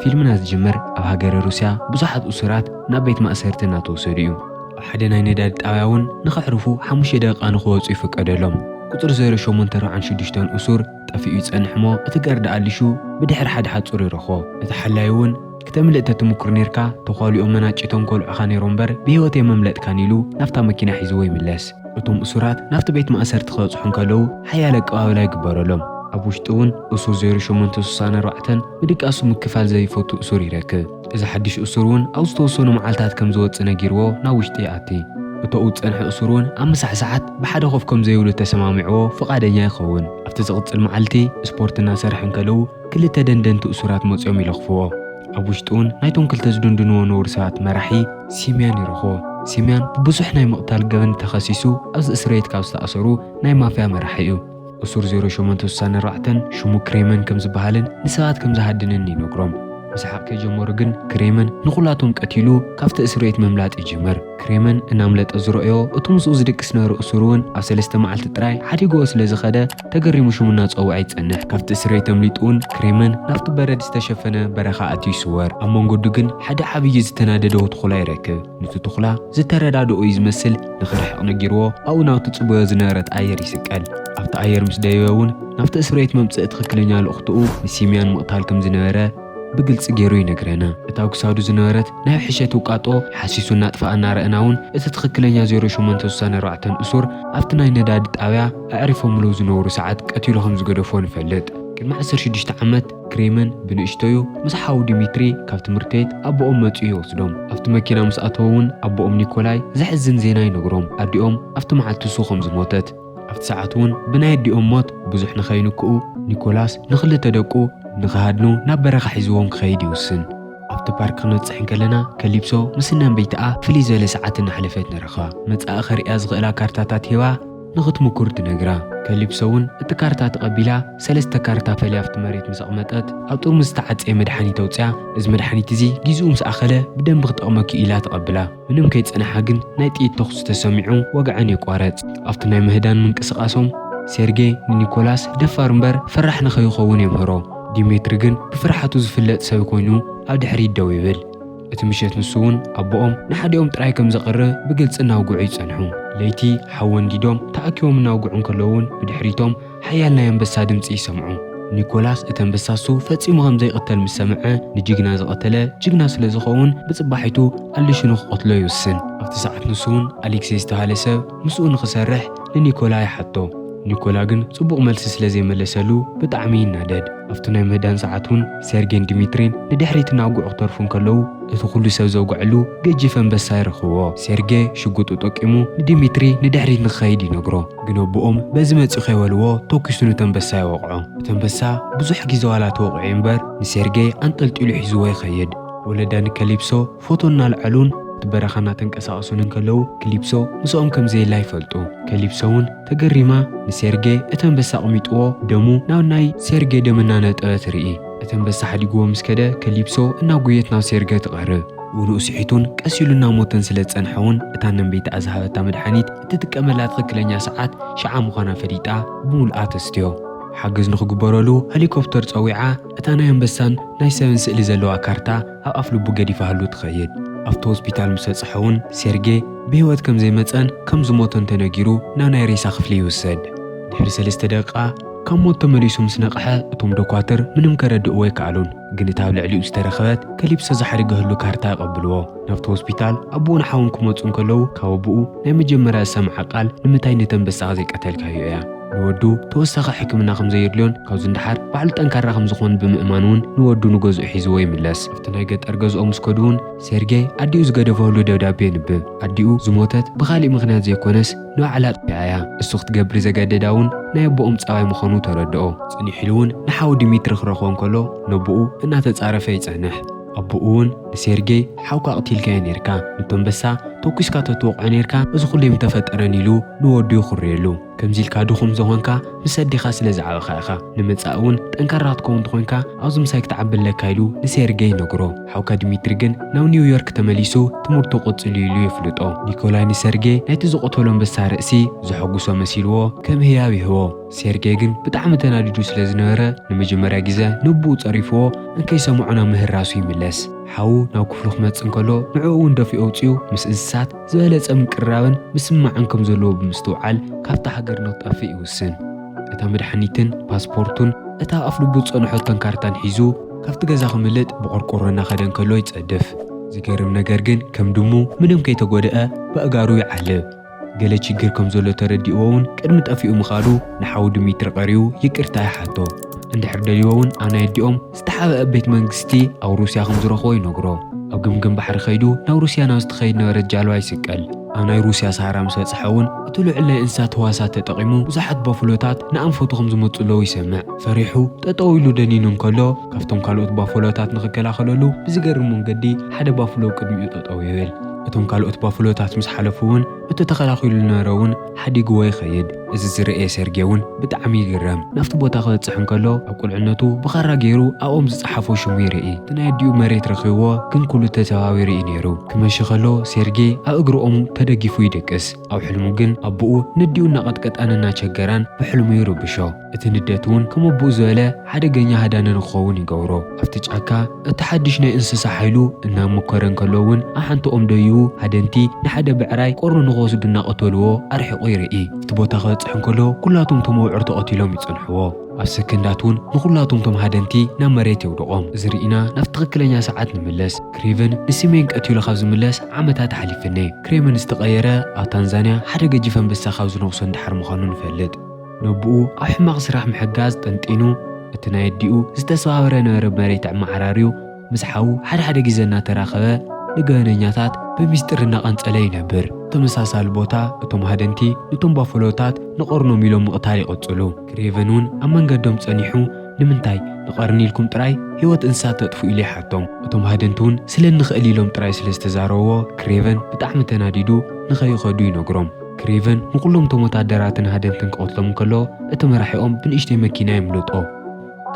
ፊልምና ዝጅምር ኣብ ሃገረ ሩስያ ብዙሓት እሱራት ናብ ቤት ማእሰርቲ እናተወሰዱ እዩ። ኣብ ሓደ ናይ ነዳዲ ጣብያ እውን ንኸዕርፉ ሓሙሽተ ደቂቃ ንኽወፁ ይፍቀደሎም። ቁፅሪ ዜሮ ሸሞንተ ኣርብዓን ሽዱሽተን እሱር ጠፊኡ ይፀንሕ እሞ እቲ ጋርዳ ኣሊሹ ብድሕሪ ሓደ ሓፁር ይረኽቦ። እቲ ሓላዪ እውን ክተምልጥ ተትሙክር ኔርካ ተዃሊኦም መናጭቶም ከውልዑኻ ኔሮም እምበር ብሂወት የመምለጥካን ኢሉ ናብታ መኪና ሒዝዎ ይምለስ። እቶም እሱራት ናብቲ ቤት ማእሰርቲ ክበጽሑ እንከለዉ ሓያል ኣቀባብላ ይግበረሎም። ኣብ ውሽጢ እውን እሱር ዜሮ ሸሞንተ ስሳን ኣርባዕተን ምድቃሱ ምክፋል ዘይፈቱ እሱር ይረክብ። እዚ ሓድሽ እሱር እውን ኣብ ዝተወሰኑ መዓልታት ከም ዝወጽእ ነጊርዎ ናብ ውሽጢ ይኣቲ። እቶኡ ዝጸንሐ እሱር እውን ኣብ ምሳሕ ሰዓት ብሓደ ኮፍ ከም ዘይብሉ ተሰማሚዕዎ ፍቓደኛ ይኸውን። ኣብቲ ዝቕጽል መዓልቲ ስፖርት እናሰርሐ እንከለዉ፣ ክልተ ደንደንቲ እሱራት መጽዮም ይለኽፍዎ። ኣብ ውሽጡውን ናይቶም ክልተ ዝድንድንዎ ነውሪ ሰባት መራሒ ሲምያን ይረኽቦ። ሲምያን ብብዙሕ ናይ ምቕታል ገበን ተኸሲሱ ኣብዚ እስርቤት ካብ ዝተኣሰሩ ናይ ማፍያ መራሒ እዩ። እሱር ዜሮ ሸሞንተ ስሳ ኣርባዕተን ሽሙ ክሬመን ከም ዝበሃልን ንሰባት ከም ዝሃድንን ይነግሮም። ምስሓቕ ከይጀመሩ ግን ክሬመን ንኹላቶም ቀቲሉ ካብቲ እስርቤት ምምላጥ ይጅምር። ክሬመን እናምለጠ ዝረኦዮ እቱ ምስኡ ዝድቅስ ነሩ እሱርውን ኣብ ሰለስተ መዓልቲ ጥራይ ሓዲግዎ ስለ ዝኸደ፣ ተገሪሙ ሽሙ እናጸውዐ ይጸንሕ። ካብቲ እስረይ ተምሊጡ'ውን ክሬመን ናብቲ በረድ ዝተሸፈነ በረኻ ኣትዩ ይስወር። ኣብ መንገዱ ግን ሓደ ዓብዪ ዝተናደደዎ ትኹላ ይረክብ። ኑቲ ትኹላ ዝተረዳደኦ እዩ ዝመስል ንኽርሕቕ ነጊርዎ ኣብኡ ናብቲ ትጽበዮ ዝነበረት ኣየር ይስቀል። ኣብቲ ኣየር ምስ ደየበ'ውን ናብቲ እስርቤት መምጽኢ ትኽክለኛ ልእኹትኡ ንሲምያን ምቕታል ከም ዝነበረ፣ ብግልጺ ገይሩ ይነግረና። እታ ኣብ ክሳዱ ዝነበረት ናይ ሕሸት ውቃጦ ሓሲሱ እናጥፈኣ እናረእና እውን እቲ ትኽክለኛ ዜሮ ሸሞንተ ስሳን ኣርባዕተን እሱር ኣብቲ ናይ ነዳዲ ጣብያ ኣዕሪፎምሉ ዝነበሩ ሰዓት ቀቲሉ ከም ዝገደፎ ንፈልጥ። ቅድሚ ዓሰርተ ሽዱሽተ ዓመት ክሬምን ብንእሽቶዩ ምስ ሓዉ ዲሚትሪ ካብ ትምህርትቤት ኣቦኦም መጺኡ ይወስዶም። ኣብቲ መኪና ምስ ኣተወ እውን ኣቦኦም ኒኮላይ ዘሕዝን ዜና ይነግሮም ኣዲኦም ኣብቲ መዓልቲ እሱ ከም ዝሞተት። ኣብቲ ሰዓት'ውን ብናይ ኣዲኦም ሞት ብዙሕ ንኸይንክኡ፣ ኒኮላስ ንኽልተ ደቁ ንኽሃድኑ ናብ በረኻ ሒዝዎም ክኸይድ ይውስን። ኣብቲ ፓርክ ክንበጽሕ እንከለና፣ ከሊፕሶ ምስ እነንበይትኣ ፍልይ ዝበለ ሰዓት እናሕለፈት ንረኽባ። መጻኢ ከርእያ ዝኽእላ ካርታታት ሂባ ንኽትምኩር ትነግራ። ከሊፕሶ'ውን እቲ ካርታ ተቐቢላ ሰለስተ ካርታ ፈልያ ኣብቲ መሬት ምስ ኣቕመጠት፣ ኣብ ጥርሙዝ ዝተዓጸየ መድሓኒት ኣውጺኣ፣ እዚ መድሓኒት'ዚ ጊዝኡ ምስ ኣኸለ ብደንቢ ክጠቕመኪ'ዩ ኢላ ተቐብላ። ምንም ከይጸንሓ ግን ናይ ጥይት ተኹሲ ተሰሚዑ ወግዐን ይቋረጽ። ኣብቲ ናይ ምህዳን ምንቅስቓሶም ሴርጌ ንኒኮላስ ደፋር እምበር ፈራሕ ንኸይኸውን የምህሮ። ዲሜትሪ ግን ብፍርሓቱ ዝፍለጥ ሰብ ኮይኑ ኣብ ድሕሪት ደው ይብል። እቲ ምሸት ንሱ'ውን ኣቦኦም ንሓዲኦም ጥራይ ከም ዘቕርብ ብግልጺ እናውግዑ ይጸንሑ። ለይቲ ሓወን ዲዶም ተኣኪቦም እናውግዑ እንከለዉ'ውን ብድሕሪቶም ሓያል ናይ ኣንበሳ ድምጺ ይሰምዑ። ኒኮላስ እቲ ኣንበሳ እሱ ፈጺሙ ከም ዘይቕተል ምስ ሰምዐ፣ ንጅግና ዝቐተለ ጅግና ስለ ዝኸውን ብጽባሒቱ ኣሊሹ ንኽቐትሎ ይውስን። ኣብቲ ሰዓት ንሱውን ኣሊክሴ ዝተባህለ ሰብ ምስኡ ንኽሰርሕ ንኒኮላ ይሓቶ። ኒኮላ ግን ጽቡቕ መልሲ ስለ ዘይመለሰሉ ብጣዕሚ ይናደድ። ኣብቲ ናይ ምህዳን ሰዓት እውን ሴርጌን ዲሚትሪን ንድሕሪት እናውግዑ ክተርፉ እንከለዉ እቲ ኩሉ ሰብ ዘውግዐሉ ገጂፍ ኣንበሳ ይረኽብዎ። ሴርጌ ሽጉጡ ጠቂሙ ንዲሚትሪ ንድሕሪት ንኽኸይድ ይነግሮ። ግን ኣቦኦም በዚ መጺኡ ከይበልዎ ተኲሱ ኑቲ ኣንበሳ ይወቕዖ። እቲ ኣንበሳ ብዙሕ ግዜ ዋላ ተወቒዑ እምበር ንሴርጌይ ኣንጠልጢሉ ሒዝዎ ይኸይድ። ወለዳ ንከሊፕሶ ፎቶ እናልዓሉን ኣብቲ በረኻ እናተንቀሳቐሱን እንከለዉ ክሊፕሶ ምስኦም ከም ዘየላ ይፈልጡ። ከሊፕሶ እውን ተገሪማ ንሴርጌይ እቲ ኣንበሳ ኣቕሚጥዎ ደሙ ናብ ናይ ሴርጌይ ደም እናነጠበ ትርኢ። እቲ ኣንበሳ ሓዲግዎ ምስ ከደ ከሊፕሶ እናጎየት ናብ ሴርጌይ ትቐርብ። ውንኡ ስሒቱን ቀስ ኢሉ እናሞተን ስለ ዝጸንሐ እውን እታ ነንበይታ ዝሃበታ መድሓኒት እትጥቀመላ ትኽክለኛ ሰዓት ሽዓ ምዃና ፈሊጣ ብምሉኣ ተስትዮ። ሓገዝ ንኽግበረሉ ሀሊኮፕተር ጸዊዓ እታ ናይ ኣንበሳን ናይ ሰብን ስእሊ ዘለዋ ካርታ ኣብ ኣፍልቡ ገዲፋህሉ ትኸይድ። ኣብቲ ሆስፒታል ምስ በጽሐ'ውን ሴርጌ ብህይወት ከም ዘይመጸን ከም ዝሞተን ተነጊሩ ናብ ናይ ሬሳ ክፍሊ ይውሰድ። ድሕሪ ሰለስተ ደቂቃ ካብ ሞት ተመሊሱ ምስ ነቕሐ እቶም ዶኳትር ምንም ከረድእዎ ኣይከኣሉን፣ ግን እታ ኣብ ልዕሊኡ ዝተረኽበት ከሊፕሶ ዝሓድገህሉ ካርታ የቐብልዎ። ናብቲ ሆስፒታል ኣቦኡን ሓውን ክመጹ እንከለዉ ካብ ኣቦኡ ናይ መጀመርያ ዝሰምዓ ቃል ንምንታይ ነቲ ኣንበሳኻ ዘይቀተልካዮ እያ። ንወዱ ተወሳኺ ሕክምና ከም ዘየድልዮን ካብዚ ንደሓር ባዕሉ ጠንካራ ከም ዝኾንን ብምእማን እውን ንወዱ ንገዝኡ ሒዝዎ ይምለስ። ኣብቲ ናይ ገጠር ገዝኦም ምስ ከዱ እውን ሴርጌይ ኣዲኡ ዝገደፈሉ ደብዳቤ የንብብ። ኣዲኡ ዝሞተት ብኻሊእ ምኽንያት ዘይኮነስ ንባዕላ ኣጥፊኣ እያ። እሱ ክትገብር ዘገደዳ እውን ናይ ኣቦኦም ጸባይ ምዃኑ ተረድኦ። ጽኒሕ ኢሉ እውን ንሓዉ ዲሚትሪ ክረኽቦ እንከሎ ነቦኡ እናተጻረፈ ይጸንሕ። ኣቡኡ ውን ንሴርጌይ ሓውካ ኣቕቲልካዮ ኔርካ፣ ንቶምበሳ ቶኪስካ ተትወቕዖ ኔርካ እዚ ኹሉ ኣይምተፈጠረን ኢሉ ንወዱ የኹርየሉ። ከምዚ ኢልካ ድኹም ዝኾንካ ምስ ኣዴኻ ስለ ዝዓበኻ ኢኻ። ንመጻኢ ውን ጠንካራ ክትከውን ተኾይንካ ኣብዚ ምሳይ ክትዓቢ ኣለካ ኢሉ ንሴርጌይ ይነግሮ። ሓውካ ዲሚትሪ ግን ናብ ኒውዮርክ ተመሊሱ ትምህርቱ ቀጺሉ ኢሉ የፍልጦ። ኒኮላይ ንሰርጌ ናይቲ ዝቐተሎ ኣንበሳ ርእሲ ዘሐጉሶ መሲልዎ ከም ህያብ ይህቦ። ሴርጌ ግን ብጣዕሚ ተናዲዱ ስለ ዝነበረ ንመጀመርያ ግዘ ንቡኡ ፀሪፍዎ እንከይሰምዖ ናብ ምህራሱ ይምለስ። ሓዉ ናብ ክፍሉ ክመፅእ እንከሎ ንዕኡ እውን ደፊኡ ኣውፂኡ ምስ እንስሳት ዝበለፀ ምቅርራብን ምስምማዕን ከም ዘለዎ ብምስትውዓል ካብታ ሃገር ንክጠፍእ ይውስን። እታ መድሓኒትን ፓስፖርቱን እታ ኣፍልቡ ዝፀንሖቶን ካርታን ሒዙ ካብቲ ገዛ ከምልጥ ብቆርቆሮ እናኸደ እንከሎ ይፀድፍ። ዝገርም ነገር ግን ከም ድሙ ምንም ከይተጎድኣ በእጋሩ ይዓልብ። ገለ ችግር ከም ዘሎ ተረዲእዎ እውን ቅድሚ ጠፊኡ ምኻዱ ንሓው ድሚትሪ ቀሪቡ ይቅርታ ይሓቶ። እንድሕር ደልይዎ እውን ኣነ የዲኦም ዝተሓበኣ ቤት መንግስቲ ኣብ ሩስያ ከም ዝረኽቦ ይነግሮ። ኣብ ገምገም ባሕሪ ከይዱ ናብ ሩስያ ናብ ዝትኸይድ ነበረት ጃልባ ይስቀል። ኣብ ናይ ሩስያ ሰሃራ ምስ በጽሐ እውን እቲ ልዑል ናይ እንስሳት ህዋሳት ተጠቂሙ ብዙሓት ባፍሎታት ንኣንፈቱ ከም ዝመጽእለዉ ይሰምዕ። ፈሪሑ ጠጠው ኢሉ ደኒኑ እንከሎ ካብቶም ካልኦት ባፍሎታት ንኽከላኸለሉ ብዝገርም መንገዲ ሓደ ባፍሎ ቅድሚኡ ጠጠው ይብል። እቶም ካልኦት ባፍሎታት ምስ ሓለፉ እውን እቲ ተኸላኺሉ ዝነበረ እውን ሓዲግዎ ይኸይድ። እዚ ዝረኤ ሰርጌ እውን ብጣዕሚ ይግረም። ናብቲ ቦታ ክበፅሕ እንከሎ ኣብ ቁልዕነቱ ብኻራ ገይሩ ኣብ ኦም ዝፀሓፎ ሽሙ ይርኢ። እቲ ናይ ኣዲኡ መሬት ረኺብዎ ግን ኩሉ ተዘዋዊሩ እዩ ነይሩ። ክመሺ ከሎ ሴርጌ ኣብ እግሪ ኦም ተደጊፉ ይድቅስ። ኣብ ሕልሙ ግን ኣቡኡ ነዲኡ እናቐጥቀጣን እናቸገራን ብሕልሙ ይርብሾ። እቲ ንደት እውን ከም ኣቦኡ ዝበለ ሓደገኛ ሃዳኒ ንክኸውን ይገብሮ። ኣብቲ ጫካ እቲ ሓድሽ ናይ እንስሳ ሓይሉ እናመኮረ እንከሎ እውን ኣብ ሓንቲ ኦም ደይቡ ሃደንቲ ንሓደ ብዕራይ ቆርኑ ንክወስዱ እናቐተሉዎ ኣርሒቑ ይርኢ። ኣብቲ ቦታ ክበፅሕ እንከሎ ኩላቶም እቶም ኣብዑር ተቐቲሎም ይፀንሑዎ። ኣብ ሰከንዳት እውን ንኹላቶም እቶም ሃደንቲ ናብ መሬት የውድቖም። እዚ ርኢና ናብቲ ትኽክለኛ ሰዓት ንመለስ። ክሬቨን ንሲሜን ቀቲሉ ካብ ዝምለስ ዓመታት ሓሊፈኔ። ክሬቨን ዝተቐየረ ኣብ ታንዛንያ ሓደ ገጂፍ ኣንበሳ ካብ ዝነኽሶ እንድሓር ምዃኑ ንፈልጥ። ነቡኡ ኣብ ሕማቕ ስራሕ ምሕጋዝ ጠንጢኑ፣ እቲ ናይ ኣዲኡ ዝተሰባበረ ነበረ መሬት ኣመዓራርዩ፣ ምስ ሓዉ ሓደ ሓደ ግዜ እናተራኸበ ንገበነኛታት ብሚስጢር እናቐንጸለ ይነብር። ኣብ ተመሳሳሊ ቦታ እቶም ሃደንቲ ንቶም ባፈሎታት ንቐርኖም ኢሎም ምቕታል ይቕጽሉ። ክሬቨን እውን ኣብ መንገዶም ጸኒሑ ንምንታይ ንቐርኒ ኢልኩም ጥራይ ህይወት እንስሳት ተጥፍኡ ኢሉ ይሓቶም። እቶም ሃደንቲ እውን ስለ እንኽእል ኢሎም ጥራይ ስለ ዝተዛረብዎ ክሬቨን ብጣዕሚ ተናዲዱ ንኸይኸዱ ይነግሮም። ክሬቨን ንዅሎም እቶም ወተሃደራትን ሃደንትን ክቐትሎም እንከሎ፣ እቲ መራሒኦም ብንእሽተይ መኪና የምልጦ።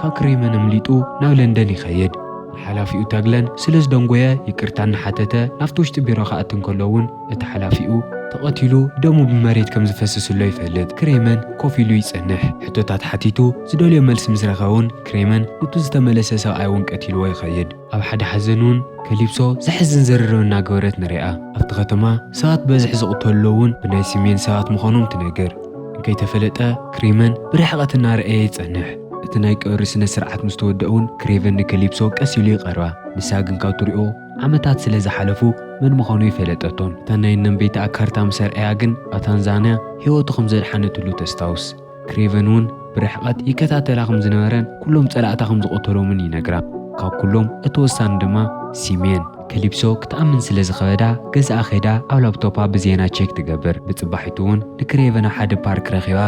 ካብ ክሬቨን ኣምሊጡ ናብ ለንደን ይኸይድ። ንሓላፊኡ ተግለን ስለ ዝደንጐየ ይቅርታ እናሓተተ ናብቲ ውሽጢ ቢሮ ክኣቱ እንከሎ እውን እቲ ሓላፊኡ። ተቐቲሉ ደሙ ብመሬት ከም ዝፈስስ'ሎ ይፈልጥ። ክሬቨን ኮፍ ኢሉ ይጸንሕ። ሕቶታት ሓቲቱ ዝደልዮ መልሲ ምስ ረኸበ እውን ክሬቨን ኑቲ ዝተመለሰ ሰብኣይ እውን ቀቲልዎ ይኸይድ። ኣብ ሓደ ሓዘን ውን ከሊፕሶ ዘሕዝን ዝርርብ እናገበረት ንሪኣ። ኣብቲ ከተማ ሰባት ብበዝሒ ዝቕተልሉ ውን ብናይ ስሜን ሰባት ምዃኖም ትነግር። እንከይተፈለጠ ክሬመን ብርሕቐት እናረኣየ ይጸንሕ። እቲ ናይ ቀብሪ ስነ ስርዓት ምስ ተወድኣ ውን ክሬቨን ንከሊፕሶ ቀስ ኢሉ ይቐርባ። ንሳ ግን ካብ ትሪኦ ዓመታት ስለ ዝሓለፉ መን ምዃኑ ኣይፈለጠቶን። እታ ናይ እነምቤይታኣ ካርታ ምስ ኣርኣያ ግን ኣብ ታንዛንያ ህይወቱ ከም ዘድሓነትሉ ተስታውስ። ክሬቨን እውን ብርሕቐት ይከታተላ ከም ዝነበረን ኩሎም ጸላእታ ከም ዝቐተሎምን ይነግራ። ካብ ኩሎም እቲ ወሳኒ ድማ ሲሜን ከሊፕሶ ክትኣምን ስለ ዝኸበዳ ገዛኣ ከይዳ ኣብ ላፕቶፓ ብዜና ቼክ ትገብር። ብጽባሒቱ እውን ንክሬቨን ኣብ ሓደ ፓርክ ረኺባ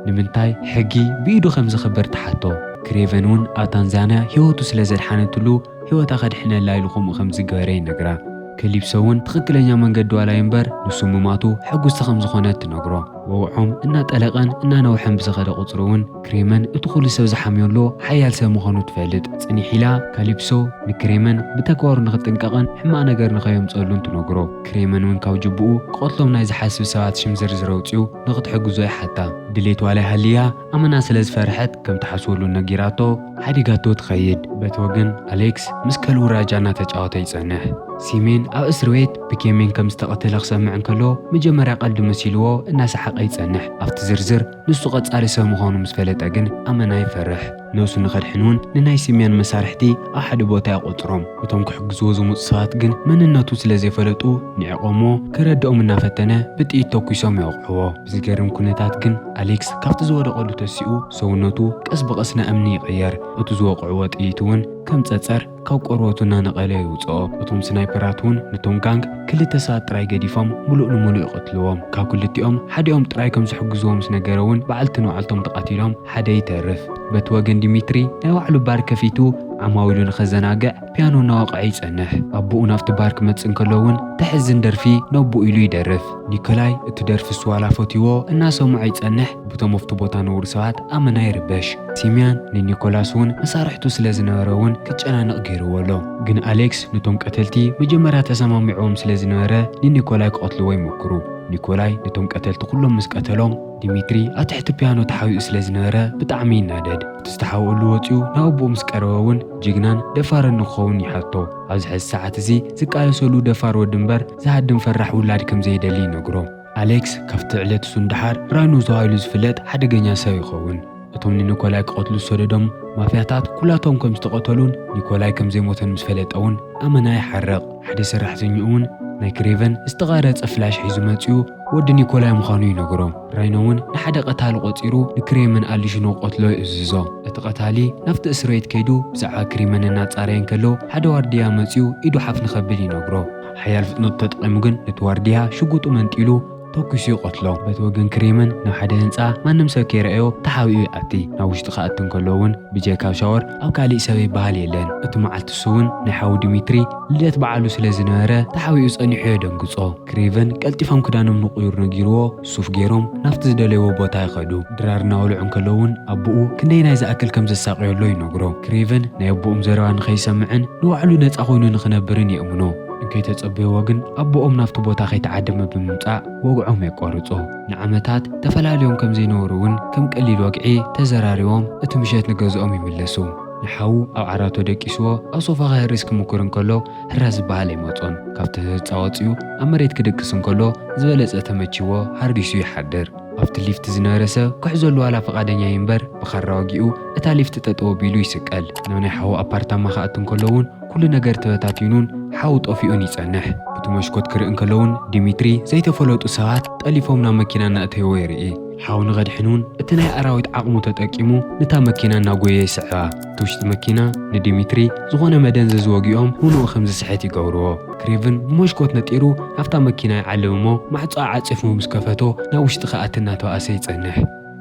ንምንታይ ሕጊ ብኢዱ ከም ዘኽብር ትሓቶ። ክሬቨን እውን ኣብ ታንዛንያ ህይወቱ ስለ ዘድሓነትሉ ህይወታ ከድሕነላ ኢሉ ከምኡ ከም ዝገበረ ይነግራ። ከሊፕሶ እውን ትኽክለኛ መንገዲ ዋላ ይንበር ንሱ ምማቱ ሕጉስቲ ከም ዝኾነት ትነግሮ። ወግዖም እናጠለቐን እናነውሐን ብዝኸደ ቁፅሪ እውን ክሬመን እቲ ኩሉ ሰብ ዝሓምዮሉ ሓያል ሰብ ምዃኑ ትፈልጥ። ፅኒሕ ኢላ ከሊፕሶ ንክሬመን ብተግባሩ ንኽጥንቀቕን ሕማቕ ነገር ንኸየምፀሉን ትነግሮ። ክሬመን እውን ካብ ጅቡኡ ክቐትሎም ናይ ዝሓስብ ሰባት ሽም ዝርዝር ኣውፂኡ ንኽትሕግዞ ይሓታ። ድሌት ዋላ ይሃልያ ኣመና ስለ ዝፈርሐት ከም ትሓስበሉ ነጊራቶ ሓዲጋቶ ትኸይድ። በቲ ወገን ኣሌክስ ምስ ከልቡ ራጃ እናተጫወተ ይጸንሕ። ሲሜን ኣብ እስርቤት ብኬሜን ከም ዝተቐተለ ክሰምዕ እንከሎ መጀመርያ ቀልዲ መሲልዎ እናሰሓቐ ይጸንሕ። ኣብቲ ዝርዝር ንሱ ቀጻሊ ሰብ ምዃኑ ምስ ፈለጠ ግን ኣመና ይፈርሕ። ነብሱ ንኸድሕን እውን ንናይ ሲሜን መሳርሕቲ ኣብ ሓደ ቦታ ይቖጽሮም። እቶም ክሕግዝዎ ዝመጹ ሰባት ግን መንነቱ ስለ ዘይፈለጡ ንዒቖምዎ፣ ከረድኦም እናፈተነ ብጥይት ተኲሶም የውቕዕዎ። ብዝገርም ኩነታት ግን ኣሌክስ ካብቲ ዝወደቐሉ ተሲኡ ሰውነቱ ቀስ ብቐስ ንእምኒ ይቕየር፣ እቲ ዝወቕዕዎ ጥይት እውን ከም ጸጸር ካብ ቆርበቱ እናነቐለ የውጽኦ። እቶም ስናይፐራት እውን ንቶም ጋንግ ክልተ ሰባት ጥራይ ገዲፎም ምሉእ ንምሉእ ይቐትልዎም። ካብ ክልቲኦም ሓዲኦም ጥራይ ከም ዝሕግዝዎ ምስ ነገረ እውን በዓልቲ ንባዕልቶም ተቐቲሎም ሓደ ይተርፍ። በቲ ወገን ዲሚትሪ ናይ ባዕሉ ባር ከፊቱ ዓማዊሉ ንኸዘናግዕ ፒያኖ እናወቕዐ ይጸንሕ። ኣቦኡ ናብቲ ባር ክመጽእ እንከሎ እውን ተሕዝን ደርፊ ነቦኡ ኢሉ ይደርፍ። ኒኮላይ እቲ ደርፊ እሱ ዋላ ፈትይዎ እናሰምዖ ይጸንሕ ብቶም ኣብቲ ቦታ ንብሩ ሰባት ኣመና ይርበሽ። ሲምያን ንኒኮላስ እውን መሳርሕቱ ስለ ዝነበረ እውን ክጨናነቕ ገይርዎ ኣሎ። ግን ኣሌክስ ነቶም ቀተልቲ መጀመርያ ተሰማሚዕዎም ስለ ዝነበረ ንኒኮላይ ክቐትልዎ ይሞክሩ። ኒኮላይ ነቶም ቀተልቲ ኩሎም ምስ ቀተሎም ዲሚትሪ ኣብ ትሕቲ ፒያኖ ተሓቢኡ ስለ ዝነበረ ብጣዕሚ ይናደድ። እቲ ዝተሓብእሉ ወጺኡ ናብ ኣቦኡ ምስ ቀረበ እውን ጅግናን ደፋርን ንክኸውን ይሓቶ። ኣብዚ ሕዚ ሰዓት እዚ ዝቃለሰሉ ደፋር ወዲ እምበር ዝሃድም ፈራሕ ውላድ ከም ዘይደሊ ይነግሮ። ኣሌክስ ካብቲ ዕለት እሱ ንደሓር ራኖ ተባሂሉ ዝፍለጥ ሓደገኛ ሰብ ይኸውን። እቶም ንኒኮላይ ክቐትሉ ዝሰደዶም ማፍያታት ኩላቶም ከም ዝተቐተሉን ኒኮላይ ከም ዘይሞተን ምስ ፈለጠ እውን ኣመና ይሓርቕ። ሓደ ሰራሕተኛኡ እውን ናይ ክሬቨን ዝተቐረጸ ፍላሽ ሒዙ መጺኡ ወዲ ኒኮላይ ምዃኑ ይነግሮ። ራይኖ እውን ንሓደ ቀታሊ ቆጺሩ ንክሬመን ኣሊሹ ንክቐትሎ ይእዝዞ። እቲ ቀታሊ ናብቲ እስርቤት ከይዱ ብዛዕባ ክሪመን እናጻረየ እንከሎ ሓደ ዋርድያ መጺኡ ኢዱ ሓፍ ንከብል ይነግሮ። ሓያል ፍጥነቱ ተጠቒሙ ግን ነቲ ዋርድያ ሽጉጡ መንጢሉ ተኲሱ ይቐትሎ። በቲ ወገን ክሬመን ናብ ሓደ ህንጻ ማንም ሰብ ከይረኣዮ ተሓቢኡ ይኣቲ። ናብ ውሽጢ ክኣቲ እንከሎ እውን ብጀካ ኣብ ሻወር ኣብ ካሊእ ሰብ ይበሃል የለን። እቲ መዓልቲ እሱ እውን ናይ ሓዉ ዲሚትሪ ልደት በዓሉ ስለ ዝነበረ ተሓቢኡ ጸኒሑ የደንግጾ። ክሬቨን ቀልጢፎም ክዳኖም ንቕዩር ነጊርዎ፣ ሱፍ ገይሮም ናብቲ ዝደለይዎ ቦታ ይኸዱ። ድራር እናበልዑ እንከለዉ እውን ኣቦኡ ክንደየናይ ዝኣክል ከም ዘሳቕዮሎ ይነግሮ። ክሬቨን ናይ ኣቦኦም ዘረባ ንኸይሰምዕን ንባዕሉ ነጻ ኮይኑ ንኽነብርን የእምኖ። እንከይተጸበይዎ ግን ኣቦኦም ናብቲ ቦታ ከይተዓደመ ብምምጻእ ወግዖም የቋርጾ። ንዓመታት ተፈላልዮም ከም ዘይነበሩ እውን ከም ቀሊል ወግዒ ተዘራሪቦም እቲ ምሸት ንገዝኦም ይምለሱ። ንሓዉ ኣብ ዓራቶ ደቂስዎ ኣብ ሶፋ ከህርስ ክምኩር እንከሎ፣ ህራህ ዝበሃል ኣይመጾን። ካብቲ ህጻ ወጺኡ ኣብ መሬት ክድቅስ እንከሎ ዝበለጸ ተመቺዎ ሃሪሱ ይሓድር። ኣብቲ ሊፍት ዝነበረ ሰብ ክሕዘሉ ዋላ ፍቓደኛ ኣይንበር ብኻራ ወጊኡ እታ ሊፍት ጠጠው ኣቢሉ ይስቀል። ናብ ናይ ሓዉ ኣፓርታማ ክኣቱ እንከሎ እውን ኩሉ ነገር ተበታቲኑን ሓዉ ጠፊኡን ይጸንሕ። ብቲ መሽኮት ክርኢ እንከሎ እውን ዲሚትሪ ዘይተፈለጡ ሰባት ጠሊፎም ናብ መኪና እናእተይዎ ይርኢ። ሓዉ ንኸድሕን እውን እቲ ናይ ኣራዊት ዓቕሙ ተጠቂሙ ንታ መኪና እናጎየ ይስዕባ። እቲ ውሽጢ መኪና ንዲሚትሪ ዝኾነ መደንዘዚ ወጊኦም ምሉኡ ከም ዝስሕት ይገብርዎ። ክሬቭን ብሞሽኮት ነጢሩ ኣብታ መኪና ይዓልብ እሞ ማዕጾኣ ዓጺፉ ምስ ከፈቶ ናብ ውሽጢ ክኣቲ እናተባእሰ ይጸንሕ።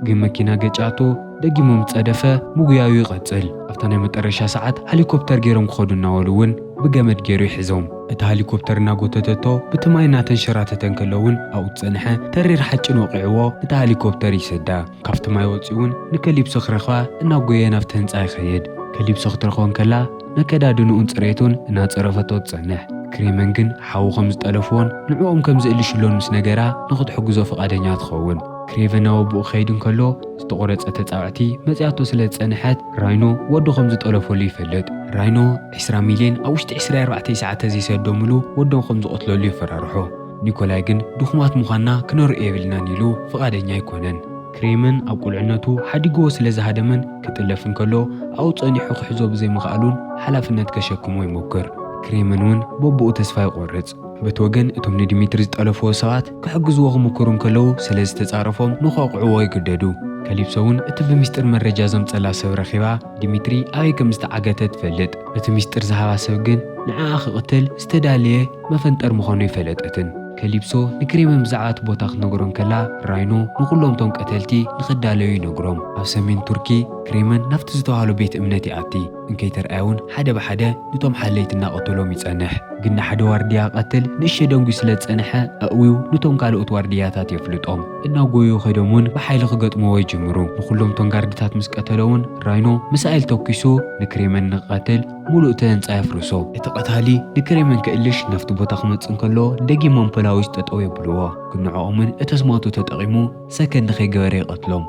ግን መኪና ገጭያቶ ደጊሙ ምስ ጸደፈ ምጉያዩ ይቐጽል። ኣብታ ናይ መጠረሻ ሰዓት ሃሊኮፕተር ገይሮም ክኸዱ እናበሉ እውን ብገመድ ገይሩ ይሕዞም። እታ ሃሊኮፕተር እናጎተተቶ ብቲ ማይ እናተንሸራተተ እንከሎ እውን ኣብኡ ዝጸንሐ ተሪር ሓጭን ወቒዕዎ ነታ ሃሊኮፕተር ይሰዳ። ካብቲ ማይ ወጺኡ'ውን ንከሊፕሶ ክረኽባ እናጎየየ ናብቲ ህንጻ ይኸይድ። ከሊፕሶ ክትረኽቦ እንከላ ነከዳድንኡን ጽሬቱን እናጸረፈቶ ትጸንሕ። ክሬመን ግን ሓዉ ከም ዝጠለፍዎን ንዕኦም ከም ዝእልሽሎን ምስ ነገራ ንኽትሕግዞ ፍቓደኛ ትኸውን። ክሬቨን ናብ ኣቦኡ ክኸይድ እንከሎ ዝተቖረጸ ተጻብዕቲ መጺኣቶ ስለ ዝጸንሐት ራይኖ ወዱ ከም ዝጠለፈሉ ይፈልጥ። ራይኖ ዕስራ ሚልየን ኣብ ውሽጢ ዕስራ ኣርባዕተ ሰዓተ ዘይሰዶምሉ ወዶም ከም ዝቐትለሉ የፈራርሖ። ኒኮላይ ግን ድኹማት ምዃንና ክነርኦ የብልናን ኢሉ ፍቓደኛ ኣይኮነን። ክሬምን ኣብ ቁልዕነቱ ሓዲግዎ ስለ ዝሃደመን ክጥለፍ እንከሎ ኣብኡ ጸኒሑ ክሕዞ ብዘይምኽኣሉን ሓላፍነት ከሸክሞ ይሞክር። ክሬምን እውን በብኡ ተስፋ ይቖርጽ። በቲ ወገን እቶም ንዲሚትሪ ዝጠለፍዎ ሰባት ክሕግዝዎ ክምክሩ እንከለዉ ስለ ዝተጻረፎም ንኸውቕዕዎ ይግደዱ። ከሊፕሶ እውን እቲ ብሚስጥር መረጃ ዘምጸላ ሰብ ረኺባ ዲሚትሪ ኣበይ ከም ዝተዓገተ ትፈልጥ። እቲ ሚስጥር ዝሃባ ሰብ ግን ንዓኣ ክቕትል ዝተዳለየ መፈንጠር ምዃኑ ኣይፈለጠትን። ከሊፕሶ ንክሬመን ብዛዕባ እቲ ቦታ ክትነግሮ እንከላ፣ ራይኖ ንዅሎም እቶም ቀተልቲ ንኽዳለዩ ይነግሮም። ኣብ ሰሜን ቱርኪ፣ ክሬመን ናብቲ ዝተባህሎ ቤት እምነት ይኣቲ፣ እንከይተርኣየ እውን ሓደ ብሓደ ኑቶም ሓለይቲ እናቐተሎም ይጸንሕ። ግን ንሓደ ዋርድያ ክቐትል ንእሽቶ ደንጒዩ ስለ ዝጸንሐ፣ ኣእውዩ ኑቶም ካልኦት ዋርድያታት የፍልጦም። እናጐየዩ ከይዶም እውን ብሓይሊ ክገጥምዎ ይጅምሩ። ንዅሎም እቶም ጋርድታት ምስ ቀተለ እውን፣ ራይኖ ሚሳኤል ተኲሱ ንክሬመን ንኽቐትል፣ ሙሉእ እቲ ህንጻ የፍርሶ። እቲ ቀታሊ ንክሬመን ክእልሽ ናብቲ ቦታ ክመጽእ እንከሎ ደጊሞም ፖላዊስ ጠጠው የብልዎ ግን ንዕኦምን እተስማቱ ተጠቂሙ ሰከን ንከይገበረ ይቀትሎም።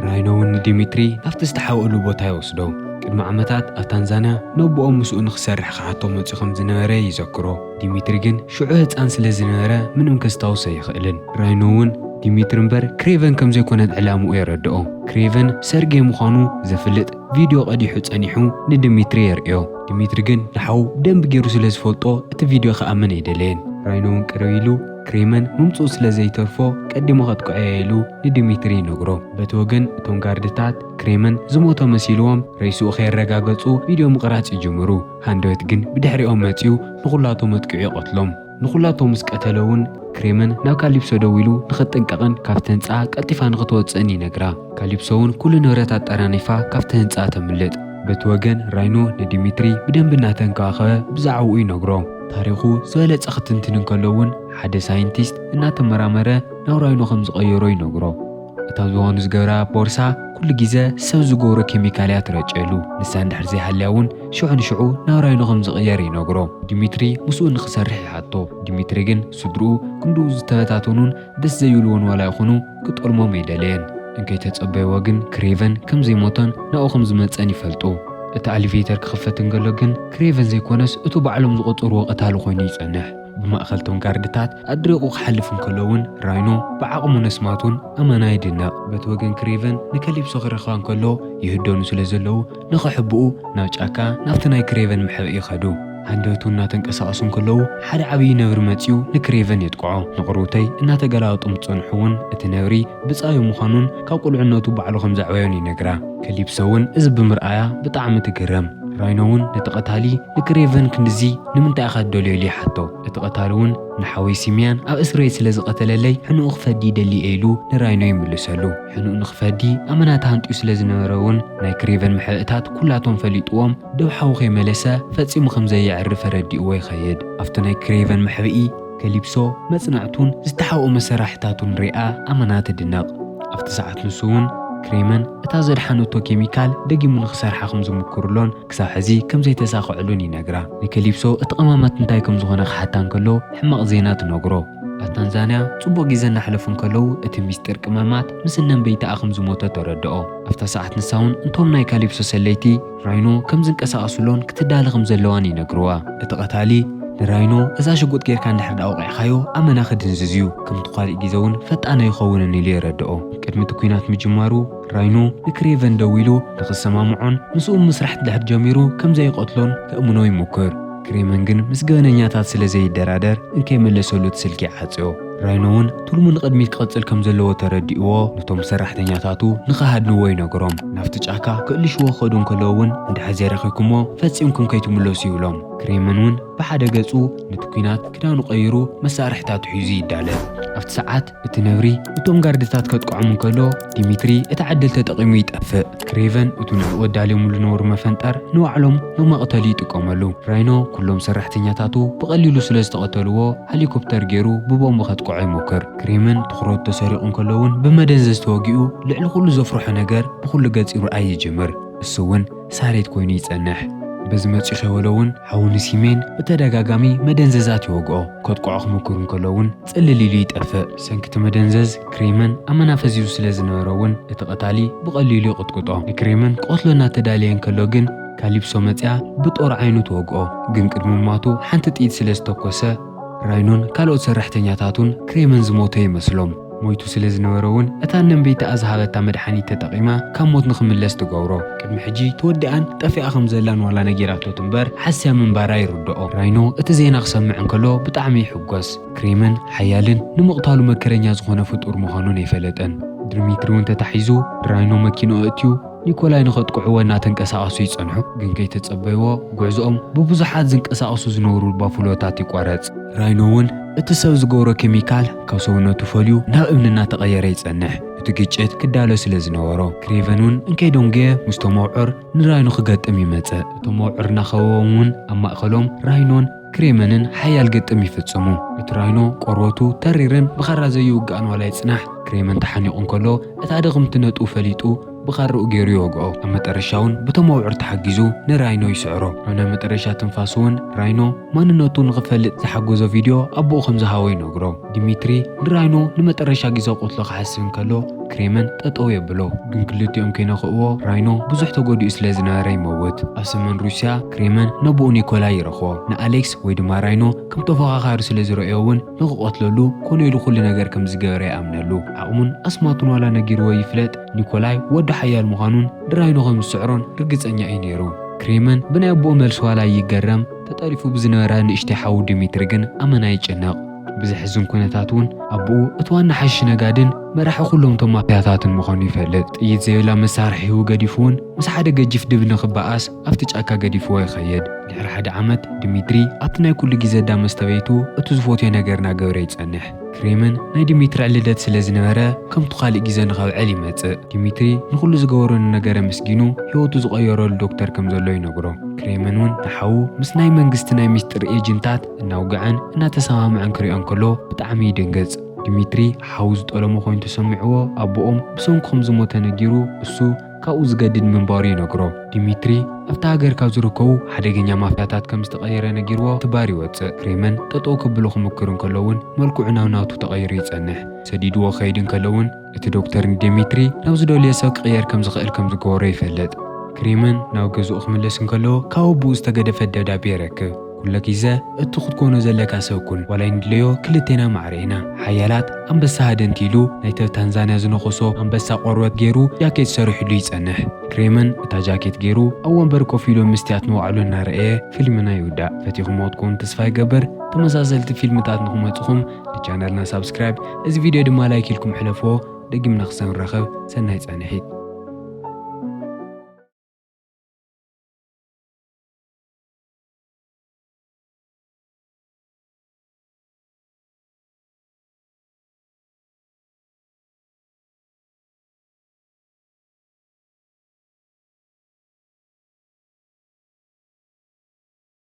ራይኖ እውን ንዲሚትሪ ናብቲ ዝተሓብእሉ ቦታ ይወስዶ። ቅድሚ ዓመታት ኣብ ታንዛንያ ነቦኦም ምስኡ ንክሰርሕ ክሓቶ መጽዩ ከምዝነበረ ይዘክሮ። ዲሚትሪ ግን ሽዑ ህጻን ስለዝነበረ ምንም ከስታውስ ኣይኽእልን። ራይኖ እውን ዲሚትሪ እምበር ክሬቨን ከምዘይኮነት ዕላምኡ የረድኦ። ክሬቨን ሰርጌ ምዃኑ ዘፍልጥ ቪድዮ ቀዲሑ ጸኒሑ ንድሚትሪ የርእዮ። ድሚትሪ ግን ንሓዉ ብደንቢ ጌሩ ስለ ዝፈልጦ እቲ ቪድዮ ክኣምን ኣይደለየን። ራይኖ'ውን ቅርብ ኢሉ ክሬመን ምምጽኡ ስለ ዘይተርፎ ቀዲሙ ከጥቅዖ'የ ኢሉ ንድሚትሪ ይነግሮ። በቲ ወገን እቶም ጋርድታት ክሬመን ዝሞተ መሲልዎም ሬስኡ ከየረጋገጹ ቪድዮ ምቕራጽ ይጅምሩ። ሃንደበት ግን ብድሕሪኦም መጺኡ ንኹላቶም ኣጥቂዑ ይቐትሎም። ንዅላቶም ምስ ቀተለ እውን፣ ክሬመን ናብ ካሊፕሶ ደዊሉ ንኽትጥንቀቕን ካብቲ ህንጻ ቀልጢፋ ንኽትወጽእን ይነግራ። ካሊፕሶ እውን ኵሉ ንብረት ኣጠራኒፋ ካብቲ ህንጻ ተምልጥ። በቲ ወገን ራይኖ ንዲሚትሪ ብደንቢ እናተንከባኸበ ብዛዕባኡ ይነግሮ። ታሪኹ ዝበለጸ ክትንትን እንከሎ እውን፣ ሓደ ሳይንቲስት እናተመራመረ ናብ ራይኖ ከም ዝቐየሮ ይነግሮ። እታ ዝዋኑ ዝገብራ ቦርሳ ኩሉ ግዜ ሰብ ዝገብሮ ኬሚካል እያ ትረጨሉ፣ ንሳ እንድሕር ዘይሃልያ እውን ሽዑ ንሽዑ ናብ ራይኖ ከም ዝቕየር ይነግሮ። ዲሚትሪ ምስኡ ንኽሰርሕ ይሓቶ፣ ዲሚትሪ ግን ስድርኡ ክንድኡ ዝተበታተኑን ደስ ዘይብልዎን ዋላ ይኹኑ ክጠልሞም ኣይደለየን። እንከይተጸበይዎ ግን ክሬቨን ከም ዘይሞተን ናብኡ ከም ዝመጸን ይፈልጡ። እቲ ኣሊቬተር ክኽፈት እንከሎ ግን ክሬቨን ዘይኮነስ እቱ ባዕሎም ዝቖጸርዎ ቀታሊ ኮይኑ ይጸንሕ። ብማእከል እቶም ጋርድታት ኣድሪቑ ክሓልፍ እንከሎ እውን ራይኖ ብዓቕሙ ነስማቱን ኣመና ይድነቕ። በቲ ወገን ክሬቨን ንከሊፕሶ ክረኽባ እንከሎ ይህደኑ ስለ ዘለዉ ንኸሕብኡ ናብ ጫካ ናብቲ ናይ ክሬቨን መሕብኢ ከዱ። ሃንደበቱ እናተንቀሳቐሱ እንከለዉ ሓደ ዓብዪ ነብሪ መጺኡ ንክሬቨን የጥቅዖ። ንቕርውተይ እናተገላበጡ ምስ ጸንሑ እውን እቲ ነብሪ ብጻዩ ምዃኑን ካብ ቁልዕነቱ ባዕሉ ከም ዘዕበዮን ይነግራ። ከሊፕሶ እውን እዚ ብምርኣያ ብጣዕሚ ትግረም። ራይኖ እውን ነቲ ቀታሊ ንክሬቨን ክንድዚ ንምንታይ ኢኻ እትደልዮ ኢሉ ይሓቶ። እቲ ቀታሊ እውን ንሓወይ ሲምያን ኣብ እስርቤት ስለ ዝቐተለለይ ሕንኡ ክፈዲ ይደሊ እየ ኢሉ ንራይኖ ይምልሰሉ። ሕንኡ ንክፈዲ ኣመና ተሃንጥዩ ስለ ዝነበረ እውን ናይ ክሬቨን ምሕእታት ኩላቶም ፈሊጥዎም ዶብ ሓዊ ከይመለሰ ፈጺሙ ከም ዘየዕርፍ ኣረዲእዎ ይኸይድ። ኣብቲ ናይ ክሬቨን መሕብኢ፣ ከሊፕሶ፣ መጽናዕቱን ዝተሓብኦ መሰራሕታቱን ሪኣ ኣመና ትድነቕ። ኣብቲ ሰዓት ንሱ እውን ክሬመን እታ ዘድሓነቶ ኬሚካል ደጊሙ ንክሰርሓ ከም ዝምኩርሎን፣ ክሳብ ሕዚ ከም ዘይተሳኽዐሉን ይነግራ። ንከሊፕሶ እቲ ቀማማት እንታይ ከም ዝዀነ ክሓታ እንከሎ ሕማቕ ዜና ትነግሮ። ኣብ ታንዛንያ ጽቡቕ ግዜ እናሕለፉ እንከለዉ እቲ ምስጢር ቅመማት ምስ እነንበይታኣ ከም ዝሞተ ተረድኦ። ኣብታ ሰዓት ንሳ'ውን እንቶም ናይ ካሊፕሶ ሰለይቲ ራይኖ ከም ዝንቀሳቐሱሎን ክትዳለ ከም ዘለዋን ይነግርዋ። እቲ ቀታሊ ንራይኖ እዛ ሽጉጥ ገይርካ እንድሕር ደኣ ወቒዕካዮ ኣመና ክድንዝዝ'ዩ፣ ከምቲ ኳልእ ግዜ'ውን ፈጣን ኣይኸውንን ኢሉ የረድኦ። ቅድሚ እቲ ኲናት ምጅማሩ፣ ራይኖ ንክሬቨን ደዊሉ ንኽሰማምዖን ምስኡም ምስራሕ ድሕር ጀሚሩ ከም ዘይቐትሎን ከእምኖ ይሙክር። ክሬመን ግን ምስ ገበነኛታት ስለ ዘይደራደር እንከይመለሰሉ እቲ ስልኪ ይዓጽዮ። ራይኖ እውን ትልሙ ንቕድሚት ክቕጽል ከም ዘለዎ ተረዲእዎ ነቶም ሰራሕተኛታቱ ንኽሃድንዎ ይነግሮም። ናብቲ ጫካ ክእልሽዎ ክኸዱ እንከለዉ እውን እንድሕር ዘይረኺብኩምዎ ፈጺምኩም ከይትምለሱ ይብሎም። ክሬመን እውን ብሓደ ገጹ ነቲ ኲናት ክዳኑ ቀይሩ መሳርሒታቱ ሒዙ ይዳለ። ኣብቲ ሰዓት እቲ ነብሪ እቶም ጋርድታት ከጥቅዖም እንከሎ ዲሚትሪ እቲ ዓድል ተጠቒሙ ይጠፍእ። ክሬቨን እቱ ንዕኡ ኣዳልዮምሉ ዝነበሩ መፈንጠር ንባዕሎም ንመቕተሊ ይጥቀመሉ። ራይኖ ኩሎም ሰራሕተኛታቱ ብቐሊሉ ስለ ዝተቐተልዎ ሀሊኮፕተር ገይሩ ብቦምብ ከጥቅዖ ይሞክር። ክሬመን ትኹረቱ ተሰሪቑ እንከሎ እውን ብመደንዘዝ ተወጊኡ ልዕሊ ኩሉ ዘፍርሖ ነገር ብኹሉ ገፅ ይርኣይ ይጅምር። እሱ እውን ሳሬት ኮይኑ ይፀንሕ። በዚ መፅዩ ከይወሎ እውን ሓዉ ንሲሜን ብተደጋጋሚ መደንዘዛት ይወግኦ። ከጥቅዖ ክሙክር እንከሎ እውን ጽልል ኢሉ ይጠፍእ። ብሰንኪ'ቲ መደንዘዝ ክሬመን ኣመና ፈዚዙ ስለ ዝነበረ'ውን እቲ ቐታሊ ብቐሊሉ ይቕጥቅጦ። ንክሬመን ክቐትሎ እናተዳለየ እንከሎ ግን ካሊፕሶ መጺኣ ብጦር ዓይኑ ትወግኦ። ግን ቅድሚ ምሟቱ ሓንቲ ጥይት ስለ ዝተኮሰ ራይኖን ካልኦት ሰራሕተኛታቱን ክሬመን ዝሞተ ይመስሎም። ሞይቱ ስለ ዝነበረ'ውን እታ እነንበይታኣ ዝሃበታ መድሓኒት ተጠቒማ ካብ ሞት ንኽምለስ ትገብሮ። ቅድሚ ሕጂ ተወዲኣን ጠፊኣ ከም ዘላን ዋላ ነጊራቶ ትንበር ሓስያ ምንባራ ይርድኦ። ራይኖ እቲ ዜና ክሰምዕ እንከሎ ብጣዕሚ ይሕጎስ። ሞት። ክሬመን ሓያልን ንምቕታሉ መከረኛ ዝኾነ ፍጡር ምዃኑን ኣይፈለጠን። ድርሚትሪውን ተታሒዙ ድራይኖ መኪንኡ ኣእትዩ ኒኮላይ ንኸጥቅዕዎ እናተንቀሳቐሱ ይጸንሑ። ግን ከይተጸበይዎ ጉዕዞኦም ብብዙሓት ዝንቀሳቐሱ ዝነበሩ ባፉሎታት ይቋረጽ። ድራይኖውን እቲ ሰብ ዝገብሮ ኬሚካል ካብ ሰውነቱ ፈልዩ ናብ እምኒ እናተቐየረ ይጸንሕ። እቲ ግጭት ክዳሎ ስለ ዝነበሮ ክሬቨንውን እንከይ ደንጎየ ምስቶም ኣውዕር ንራይኖ ክገጥም ይመጽእ። እቶም ኣውዕር እናኸበቦምውን ኣብ ማእከሎም ራይኖን፣ ክሬመንን ሓያል ግጥም ይፍጽሙ። እቲ ራይኖ ቆርበቱ ተሪርን ብኻራ ዘይውጋእን ዋላ ይጽናሕ፣ ክሬመን ተሓኒቑ እንከሎ እታ ድኽምቲ ነጥቡ ፈሊጡ ብኻርኡ ገይሩ ይወግኦ። ኣብ መጠረሻውን ብቶም ኣብዑር ተሓጊዙ ንራይኖ ይስዕሮ። ኣብ ናይ መጠረሻ ትንፋሱውን ራይኖ ማንነቱ ንኽፈልጥ ዝሓጎዞ ቪድዮ ኣቦኡ ከምዝሃቦ ይነግሮ። ዲሚትሪ ንራይኖ ንመጠረሻ ግዜ ክቕትሎ ክሓስብ እንከሎ ክሬመን ጠጠው የብሎ። ግን ክልቲኦም ከይነክእዎ ራይኖ ብዙሕ ተጎዲኡ ስለ ዝነበረ ይመውት። ኣብ ሰሜን ሩስያ ክሬመን ነቦኡ ኒኮላይ ይረኽቦ። ንኣሌክስ ወይ ድማ ራይኖ ከም ተፎኻኻሪ ስለ ዝረእዮ እውን ንክቐትለሉ ኮነ ኢሉ ኩሉ ነገር ከም ዝገበረ ይኣምነሉ። ዓቕሙን ኣስማቱን ዋላ ነጊርዎ ይፍለጥ ኒኮላይ ወዲ ሓያል ምዃኑን ንራይኖ ከም ዝስዕሮን ርግጸኛ እዩ ነይሩ። ክሬመን ብናይ ኣቦኡ መልሲ ዋላ ይገረም ተጠሪፉ ብዝነበረ ንእሽተይ ሓዉ ዲሚትሪ ግን ኣመና ይጭነቕ። ብዘሕዝን ኩነታት እውን ኣቦኡ እቲ ዋና ሓሺሽ ነጋድን መራሒ ኩሎም እቶም ማፍያታትን ምዃኑ ይፈልጥ። ጥይት ዘይብላ መሳርሒኡ ገዲፉ እውን ምስ ሓደ ገጂፍ ድብ ንኽበኣስ ኣብቲ ጫካ ገዲፍዎ ይኸይድ። ድሕሪ ሓደ ዓመት፣ ዲሚትሪ ኣብቲ ናይ ኩሉ ግዜ እዳ መስተብየይቱ እቲ ዝፎትዮ ነገር እናገበረ ይጸንሕ። ክሬምን ናይ ዲሚትሪ ዕልደት ስለ ዝነበረ ከምቱ ካልእ ግዜ ንኸብዕል ይመጽእ። ዲሚትሪ ንኹሉ ዝገበሮ ንነገር ኣመስጊኑ ህይወቱ ዝቐየረሉ ዶክተር ከም ዘሎ ይነግሮ። ክሬምን እውን ንሓዉ ምስ ናይ መንግስቲ ናይ ምስጢር ኤጅንታት እናውግዐን እናተሰማምዐን ክሪኦ እንከሎ ብጣዕሚ ይድንግጽ። ዲሚትሪ ሓው ዝጠለሞ ኮይኑ ተሰሚዕዎ ኣቦኦም ብሰንኩ ከም ዝሞተ ነጊሩ እሱ ካብኡ ዝገድድ ምንባሩ ይነግሮ። ዲሚትሪ ኣብታ ሃገር ካብ ዝርከቡ ሓደገኛ ማፍያታት ከም ዝተቐየረ ነጊርዎ ትባር ይወጽእ። ክሬመን ጠጠው ከብሎ ክምክር እንከሎ እውን መልክዑ ናብ ናቱ ተቐይሩ ይጸንሕ። ሰዲድዎ ክኸይድ እንከሎ እውን። እቲ ዶክተር ንዴሚትሪ ናብ ዝደልዮ ሰብ ክቕየር ከም ዝኽእል ከም ዝገበሮ ይፈልጥ። ክሪምን ናብ ገዝኡ ክምለስ እንከሎ ካብ ኣቦኡ ዝተገደፈት ደብዳቤ ይረክብ። ኩሎ ጊዘ እቱ ክትኮኖ ዘለካ ሰብ ኩን ዋላ ኣይንድለዮ ክልቴና ማዕረ ኢና ሓያላት ኣንበሳ ሃደንቲ ኢሉ ናይቲ ኣብ ታንዛንያ ዝነኸሶ ኣንበሳ ቆርበት ጌሩ ጃኬት ሰሪሑሉ ይጸንሕ። ክሪምን እታ ጃኬት ጌሩ ኣብ ወንበር ኮፍ ኢሉ ምስትያት ንባዕሉ እናረኣየ ፊልምና ይውዳእ። ፈቲኹሞ ክትኮኑ ተስፋ ይገብር ተመሳሰልቲ ፊልምታት ንክመጹኹም ንቻነልና ሳብስክራይብ እዚ ቪድዮ ድማ ላይክ ኢልኩም ሕለፍዎ ደጊምና ክሳብ ንራኸብ ሰናይ ጻንሒት